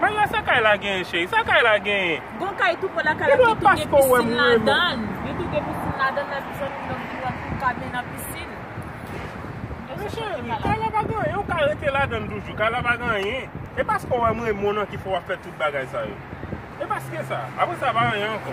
Maya sa kay la genyen cheri? Sa kay la genyen? Gon kay tou pre lakay la ki tou gen pisin ladan. Li tou gen pisin ladan nan li jwenn yon ti yon ti kaden nan pisin. Men cheri, kay la pa gen anyen ou ka rete ladan toujou. Kay la pa gen anyen. E paske ou wè m renmen w nan ki fè w ap fè tout bagay sa yo. E paske sa. Aprè sa pa anyen ankò.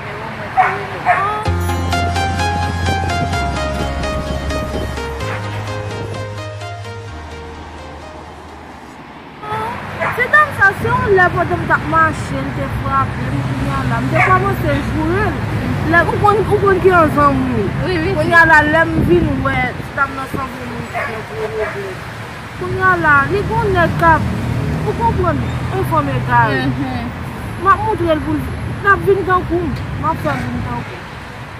Freo mwen te relew. Aww se dam sa se yon lè pandan m tap mache l te frape m kounya la m te kòmanse joure l lè ou konn ou konn ki yon zanmi kounya la lè m vin wè dam nan sanble yon moun ki gen gwo regrè. Kounya la li gon nèg kap ou konprann e fanm egare map moutrel poul lap vin tankoum map fèl vin tankoum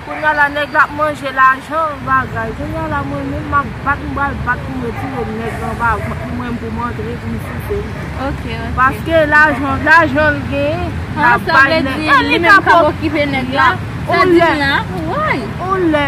kounya la nèg la ap manje lajan bagay kounya la mwen menm map bat m pral bat poum retire nèg la anba vant li mwen menm poum antre poum soufel paske lajan lajanl genyen lap bay nèg la e li ka pou ou lè ou lè.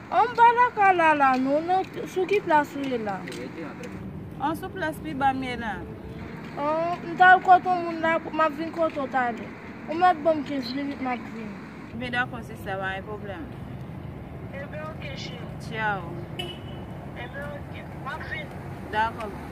An ba la ka la la non non sou ki plas ou ye la. An sou plas pi ba m ye la. An m ta al kot on moun la m ap vin kote w talè. Ou mèt ban m 15 minit m ap vin. Byen dakò sista pa gen pwoblèm. Enben ok cheri. Ciao. Enben ok m ap vin. Dakò boo.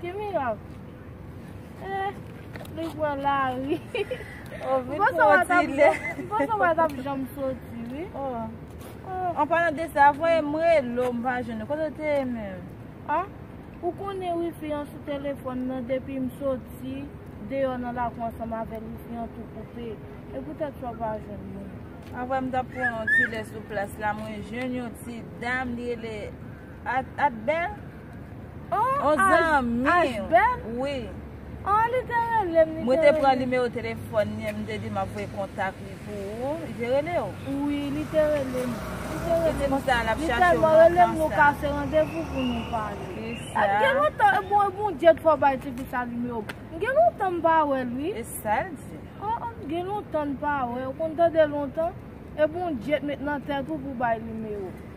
Ki mirak? Eeh, li pran lari. Oh, vin pou yon ti lè. M panse w pa t ap janm soti wi. Oh. An palan de sa, voye m relo m pa jwenn ou. Kote w te ye menm? Ah, ou konnen wifi an sou telefòn nan depi m soti deyò nan lakou ansanm avè l wifi an tou koupe. E poutèt sa w pa jwenn mwen. An vrè m t ap pran yon ti lè sou plas la mwen jwenn yon ti dam li rele Atbel. Oh Mwen te pran nimewo telefon li Mwen te di map voye kontak li pou ou Li te rele ou? Wi li te rele m Li te konsa l ap chache ou lontan sa Li te rele m nou kase randevou pou nou pale E sa Mwen gen lontan e bon e Bondye ki fè w bay tifi sa nimewo m Mwen gen lontan m pa wè l wi E sa l di? Oh oh mwen gen lontan m pa wè l ou konn tande lontan E Bondye t met nan tèt ou pou w bay nimewo m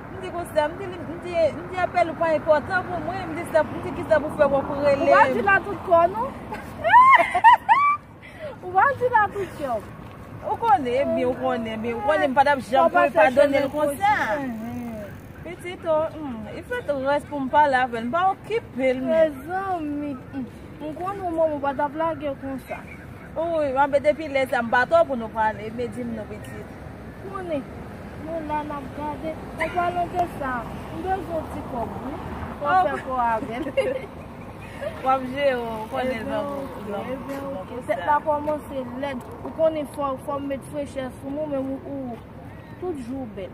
M di konsa, m di li, m di, m di apèl ou pa enpòtan pou mwen, m di sa, m di kisa pou fè wè pou relem. Ou pa di l a tout kò non. Ou pa di l a tout kè w. Ou konnen, bi ou konnen, bi ou konnen, m pa tap janm pou l padone l konsa. Pitit o, i fè tou rès pou m pale avè l, m pa okipe l. Mezanmi, m konnen ou mò m ou pa tap lage l konsa. Oouyy map be depi lè sa m pa to pou nou pale me dim nou pitit. Moune Nou la nap gade on palan de sa m bezwen on ti kob wi pou m fè kò avèl. Wap jere w konnen lòm lòm Ebyen ok fèt la komanse lèd ou konnen fòm met frechè sou mou menm ooh tout jou bèl.